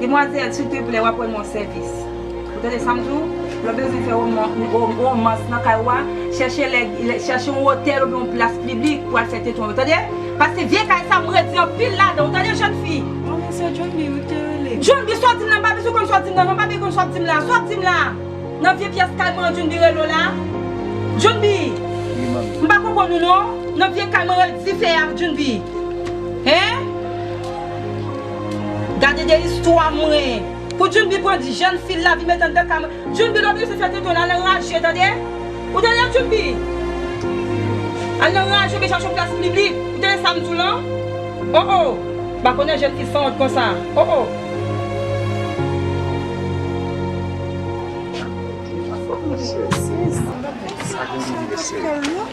Demwazel silteplè wap rann mwen sèvis ou tande sam di w lè w bezwen fè romans nan kay ou a chèche lè chèche yon otèl oubyen yon plas pliblik pou al fè teton yo tande paske vye kay sa m redi anpil ladan w tande jèn fi oh men se djunbi wi w te rele djunbi sa w di m la m pa bezwen konn sa w di m nan non m pa bezwen konn sa w di m la sa w di m la nan vye pyès kay mwen an djunbi rele w la djunbi wi manmi m pa konprann ou non nan vye kay mwen rele w dife a djunbi hein. Gade de istwa mwen. Pou djunbi pran di jèn fil lavi met anndan ka mwen djunbi lòt resi fè tenten al anraje tande ou tande djunbi al anraje oubyen chache yon plas m biblik ou tande sam diw lan oh oh m pa konnen jèn fi sanwont konsa oh oh.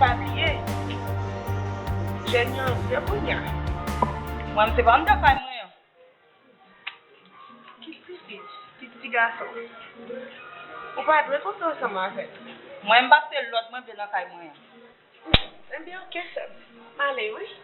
Pa bliye Jèn yo anpil kounya. Mwen se pa andan kay mwen an. Ki ti fi, ki ti gason. Ou pa dwe konte ansanm avèm. Mwen m pase lòd mwen vle nan kay mwen an. Ebyen ok sèm. Male wi.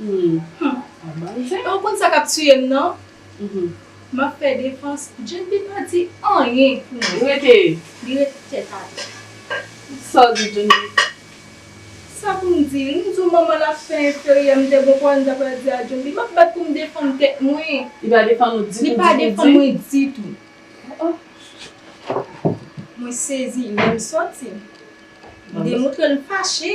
Humm ou konn sa kap tuyem nan map fè defans Djempi pa di anyen pou mwen li rete tèt atè Saw di Djempi Sa poum di m diw manman l ap fè enferyè m te gon pawòl m ta pral di a Djempi map bat poum defann tèt mwen li pa defann ou ditou li pa defann mwen ditou mwen sezi lèm sòti m demontrel m fache.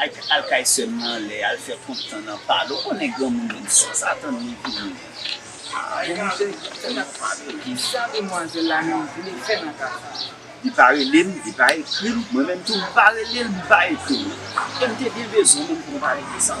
Al kay sèm nan anlè al fè kont tan nan pale ou konnen granmoun menm si w sa tann li pou li menm. Bon misye fèk ap pale. Kisa demwazel la menm vle fè nan ka sa. Li pa rele m li pa ekri m mwen menm tou m pa rele l m pa ekri l e m te byen bezwen moun pou m pale de sa.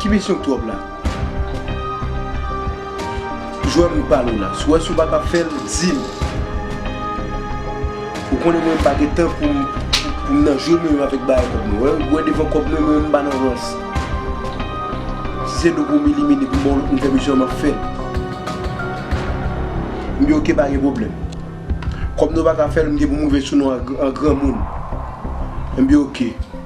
Ki misyon k twòp la? Jwè m pale w la. Si w wè si w pa kab fè l, di m. Ou konnen mwen m pa gen tan pou m nan jwe menm avèk bagay kòb mwen. Ou wè devan kòb mwen mwen m pa nan rans. Si se do pou m elimine pou m ba w lòt moun fè misyon an m ap fè l. M di ok pa gen pwoblèm. Kòm nou pa ka fè l m gen pou m rive sou nou an granmoun. M di ok.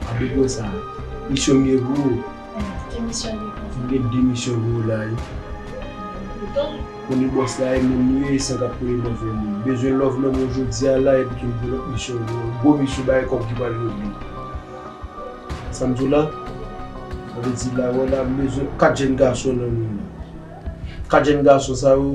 Apre gwo sa. Misyon m ye gwo. Ki misyon li ye? M gen 2 misyon gwo la wi. Poutan. Konnen bòs la e menm li ye e san k ap koule nan venn li. M bezwen love nan men w jodi a la epi tou m gen lòt misyon gwo. Gwo misyon bagay kòb ki pral regle. Sa m di w la? Sa vle di la wè la m bezwen 4 jenn gason nan men w la. 4 jenn gason sa yo.